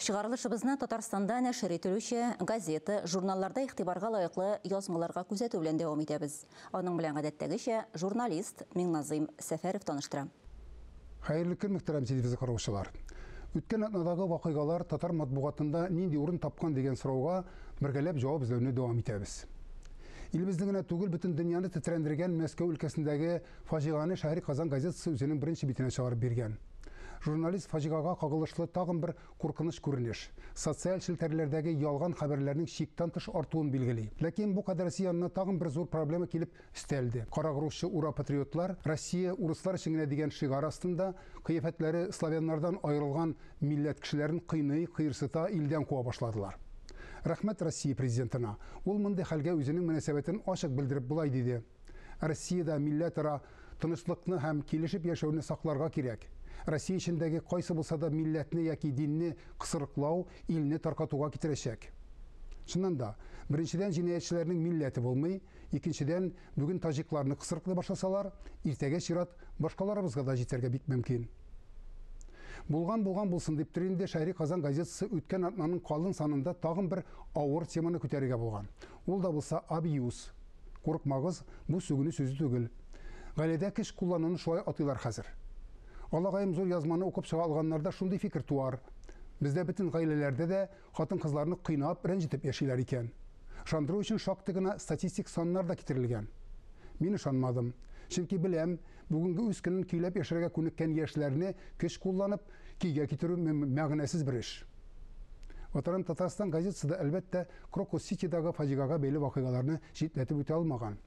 Чыгарылышыбызны Татарстанда нәшер ителүче газета, журналларда игътибарга лаеклы язмаларга күзәтү белән дәвам итәбез. Аның белән гадәттәгечә журналист Миңназыйм Сәфәров таныштыра. Хәерле көн, мөхтәрәм телевизор караучылар! Үткән атнадагы вакыйгалар татар матбугатында нинди урын тапкан дигән сорауга бергәләп җавап эзләүне дәвам итәбез. Илебезне генә түгел, бөтен дөньяны тетрәндергән Мәскәү өлкәсендәге Фаҗигане Шәһри Казан газетасы үзенең беренче битенә чыгарып биргән. Журналист фаҗигага кагылышлы тагын бер куркыныч күренеш, социаль челтәрләрдәге ялган хәбәрләрнең чиктан тыш артуын билгели. Ләкин бу кадәресе янына тагын бер зур проблема килеп өстәлде. Карагрузчы ура-патриотлар, Россия урыслар өчен генә дигән шигарь астында, кыяфәтләре славяннардан аерылган милләт кешеләрен кыйный, кыерсыта, илдән куа башладылар. Рәхмәт Россия Президентына, ул мондый хәлгә үзенең мөнәсәбәтен ачык белдереп болай диде, Россиядә милләтара тынычлыкны һәм килешеп яшәүне сакларга кирәк. Россия эчендәге кайсы булса да милләтне яки динне кысрыклау илне таркатуга китерәчәк. Чыннан да, беренчедән җинаятьчеләрнең милләте булмый, икенчедән, бүген таҗикларны кысрыклый башласалар, иртәгә чират башкаларыбызга да җитәргә бик мөмкин. Булган булган булсын диптер инде Шәһри Казан газетасы үткән атнаның калын санында тагын бер авыр теманы күтәрергә булган. Ул да булса абьюз. Курыкмагыз, бу сүгенү сүзе түгел. Гаиләдә кеш куллануны шулай атыйлар хәзер. Алагаем зур язманы укып чыга алганнарда шундый фикер туар, бездә бөтен гаиләләрдә дә хатын-кызларны кыйнап, рәнҗетеп яшиләр икән. Ышандыру өчен шактый гына статистик саннар да китерелгән. Мин ышанмадым. Чөнки беләм, бүгенге үз көнен көйләп яшәргә күнеккән яшьләрне көч кулланып, көйгә китерү мәгънәсез бер эш. Ватаным Татарстан газетасы да, әлбәттә, Крокус-Ситидагы фаҗигага бәйле вакыйгаларны читләтеп үтә алмаган.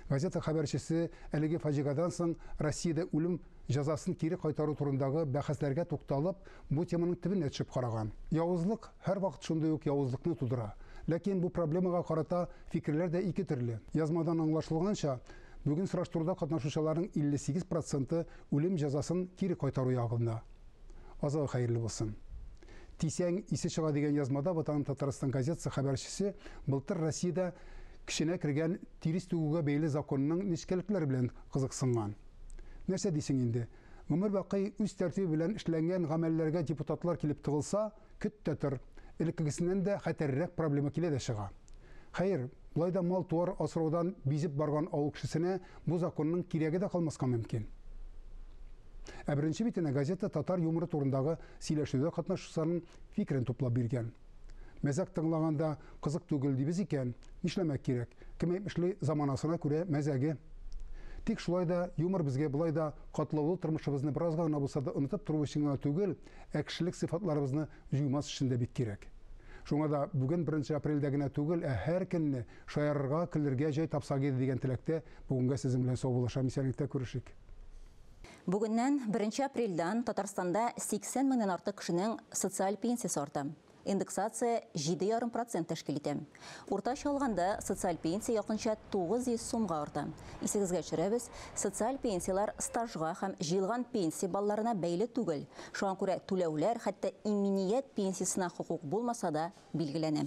Газета хәбәрчесе әлеге фаҗигадан соң Россиядә үлем җәзасын кире кайтару турындагы бәхәсләргә тукталып, бу теманың төбенә төшеп караган. Явызлык һәрвакыт шундый ук явызлыкны тудыра. Ләкин бу проблемага карата фикерләр дә ике төрле. Язмадан аңлашылганча, бүген сораштыруда катнашучыларның 58 проценты үлем җәзасын кире кайтару ягында. Азагы хәерле булсын. Тисәң, исе чыга дигән язмада Ватаным Татарстан газетасы хәбәрчесе былтыр Россиядә көченә кергән тирес түгүгә бәйле законның нечкәлекләре белән кызыксынган. Нәрсә дисең инде, гомербакый үз тәртибе белән эшләнгән гамәлләргә депутатлар килеп тыгылса, Көт тә тор, элеккегесеннән дә хәтәррәк проблема килә дә чыга. Хәер, болай да мал-туар асраудан бизеп барган авыл кешесенә бу законның кирәге дә калмаска мөмкин. Ә беренче битенә газета татар юморы турындагы сөйләшүдә катнашучыларның фикерен туплап биргән. Мәзәк тыңлаганда кызык түгел дибез икән, нишләмәк кирәк, кем әйтмешли, заманасына күрә мәзәге. Тик шулай да юмор безгә болай да катлаулы тормышыбызны беразга гына булса да онытып тору өчен генә түгел, Ә кешелек сыйфатларыбызны җуймас өчен дә бик кирәк. Шуңа да бүген беренче апрельдә генә түгел, ә һәр көнне шаярырга, көлергә җай тапсак иде дигән теләктә бүгенгә сезнең белән саубуллашам, исәнлектә күрешик. Бүгеннән, беренче апрельдән, Татарстанда 80 меңнән артык кешенең социаль пенсиясе арта. Индексация җиде ярым процент тәшкил итә. Уртача алганда, социаль пенсия якынча 900 сумга арта. Исегезгә төшерәбез, социаль пенсияләр стажга һәм җыелган пенсия балларына бәйле түгел, шуңа күрә түләүләр хәтта иминият пенсиясенә хокук булмаса да билгеләнә.